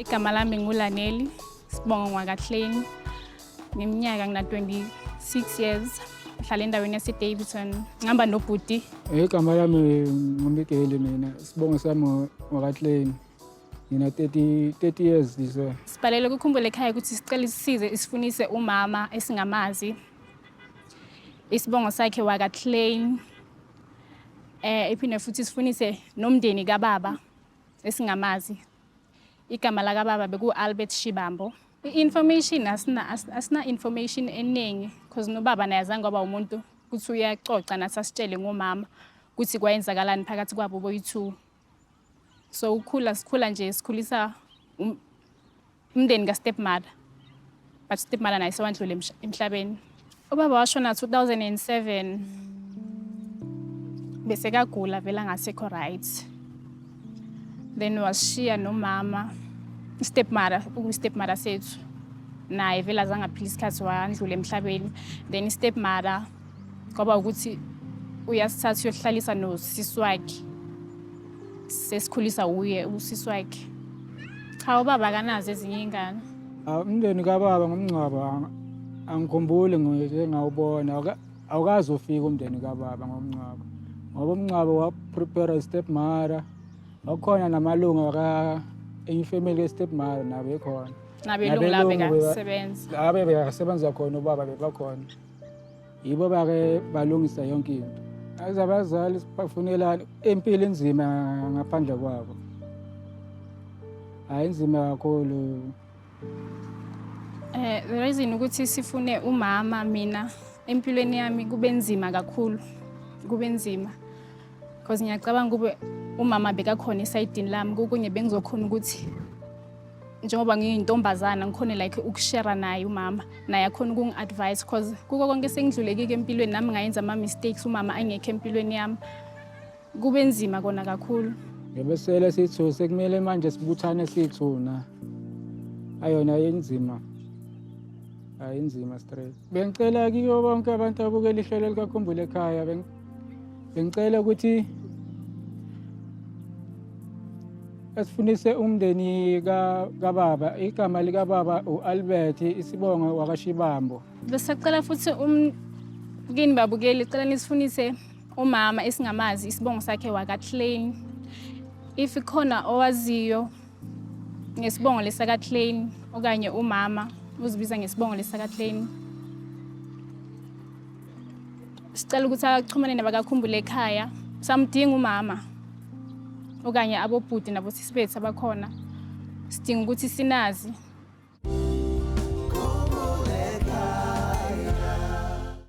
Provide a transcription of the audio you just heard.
igama lami ngulaneli sibongo ngwakahleni ngiminyaka ngina-26 years ngihlala endaweni yasedavidson ngihamba nobhuti igama lami ngumikeli mina sibongo sami ngwakahleni ngina 30 30 years this way. Sibhalele ukukhumbula ekhaya ukuthi sicela isisize isifunise umama esingamazi. isibongo sakhe wakaclaim eh iphinde futhi sifunise nomndeni kababa esingamazi igama lakababa beku-albert shibambo i-information asina asina information eningi because nobaba naye azange waba umuntu ukuthi uyaxoxa nathi asitshele ngomama ukuthi kwayenzakalani phakathi kwabo boyi-two so ukhula sikhula nje sikhulisa um, umndeni kastepmother but stepmother naye sewandlule emhlabeni ubaba washona 2007 bese kagula vela ngasekho right then washiya nomama stepmother ukustepmother sethu naye vele azangaphila isikhathi wandlula emhlabeni then istepmother kwaba ukuthi uyasithatha uyohlalisa nosisi wakhe sesikhulisa wuye usisi wakhe cha ubaba akanazo ezinye iy'ngane Ah, umndeni kababa ngomngcwabo ang- angikhumbuli ngike ngawubona Awuka- awukaze ufike umndeni kababa ngomngcwabo ngoba umngcwabo waprepare i-step mother wakhona namalungu aka enye ifamily ye-step mother nabo ekhona nabelungu labo Nabelungu beba- bekasebenza abe bekasebenza khona ubaba bebakhona yibo bake balungisa yonke into aze abazali sibafunelani impilo inzima ngaphandle kwabo hayi inzima kakhulu eh the reason ukuthi sifune umama mina empilweni yami kube nzima kakhulu kube nzima Cause ngiyacabanga kube umama bekakhona esayidini lami kokunye bengizokhona ukuthi njengoba ngiyintombazana ngikhone like ukushera naye umama naye akhona ukungi-advise cause kuko konke sengidlulekike empilweni nami ngayenza ama-mistakes umama angekho empilweni yami kube nzima kona kakhulu ngebesele sithu sekumele manje sibuthane sithuna ayona yenzima ayinzima straight bengicela kiyo bonke abantu abukela ihlelo likakhumbule ekhaya Bengicela ukuthi asifundise umndeni kababa igama likababa u-albert isibongo wakashibambo bese cela futhi um, kini babukeli cela nisifundise umama esingamazi isibongo sakhe wakaclain if khona owaziyo ngesibongo lesakaclain okanye umama uzibiza ngesibongo lesakaclain sicela ukuthi axhumane nabakakhumbule ekhaya samdinga umama okanye abobhuti nabosisi bethu abakhona sidinga ukuthi sinazi